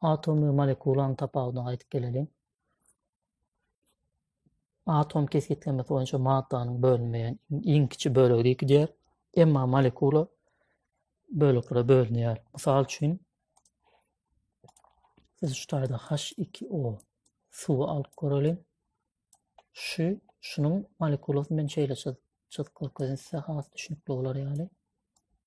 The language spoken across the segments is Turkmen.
Atom we molekulanyň tapawudyna gaýdyp geleliň. Atom kesgitlemesi boýunça maddanyň bölünmeýän iň kiçi bölegi diýip gidýär. Emma molekula böleklere bölünýär. Mysal üçin, siz şu taýda H2O suwy alyp göreliň. Şu şunuň molekulasyny men şeýle çyz çyzyp görkezdim size has düşünikli bolar ýaly.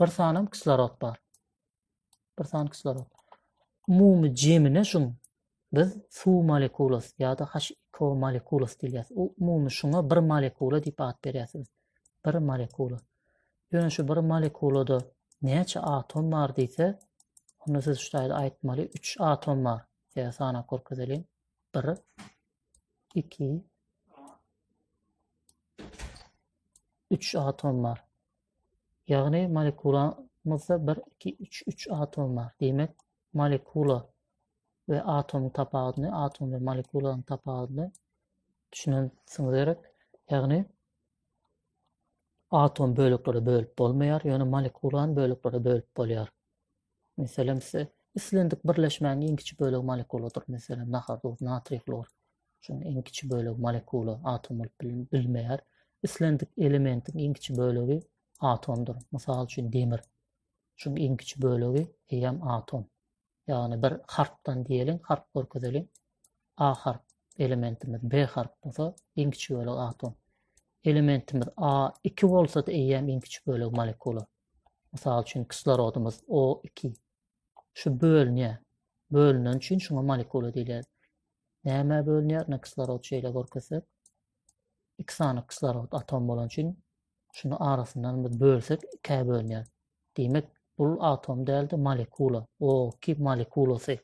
Bir sanam kislorod bar. Bir san kislorod. Umumy jemine şuň biz suw molekulasy ýa-da H2O molekulasy diýýäs. O umumy şuňa bir molekula diýip at berýäs biz. Bir molekula. Ýöne şu bir molekulada näçe atom bar diýse, onda siz şu taýda aýtmaly 3 atom bar. Ýa sanap görkezelim. 1 2 3 atom bar. Ýagny molekulamyzda bir, iki, üç, üç atom bar. Diýmek, molekula we atomyň tapawudyny, atom we molekulanyň tapawudyny düşünensiňiz gerek. Ýagny atom böleklere bölüp bolmaýar, ýöne molekulany böleklere bölüp bolýar. Meselem, size islendik birleşmäniň iň kiçi bölegi molekuladyr. Meselem, nahar, duz, natriý, hlor. Şunuň iň kiçi bölegi molekula, atom bolup bilmeýär. Islendik elementiň iň kiçi bölegi atomdyr. Mysal üçin, demir. Şunuň iň kiçi bölegi eýýäm atom. Ýagny bir harpdan diýeliň, harp görkezeliň. A harp elementimiz B harp bolsa, iň kiçi bölegi atom. Elementimiz A iki bolsa-da eýýäm iň kiçi bölegi molekula. Mysal üçin, kislorodymyz O2. Şu bölünýär. Bölünen üçin şuňa molekula diýilýär. Nämä bölünýär? Ine kislorod şeýle görkezsek. Iki sany kislorod atom bolan üçin şuny arasyndan biz bölsek ikä bölünýär. Diýmek, bu atom däldi, molekula. O2 molekulasy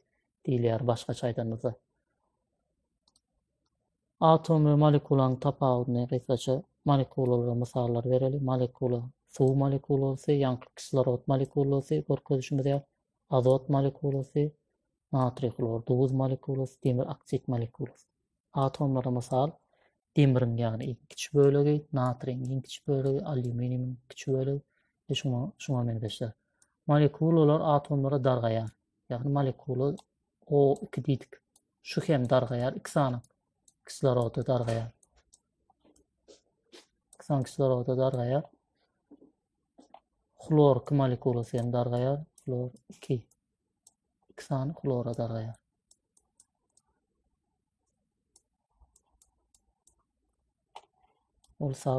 diýilýär başgaça aýdanymyzda. Atom we molekulanyň tapawudyny gysgaça molekulalara mysallar bereli. Molekula, suw molekulasy, ýaňky kislorod molekulasy, görkezişimiz ýaly, azot molekulasy, natriý hlor, duz molekulasy, demir oksid molekulasy. Atomlara mysal, demiriň ýagny iň kiçi bölegi, natriýiň iň kiçi bölegi, alýuminiýumiň kiçi bölegi we şuňa şuňa meňzeşler. Molekulalar atomlara dargaýar. Ýagny molekula O2 diýdik. Şu hem dargaýar iki sany kisloroda dargaýar. İki sany kisloroda dargaýar. Hlor iki molekulasy hem dargaýar. Hlor iki. İki sany hlora dargaýar. Ol sağ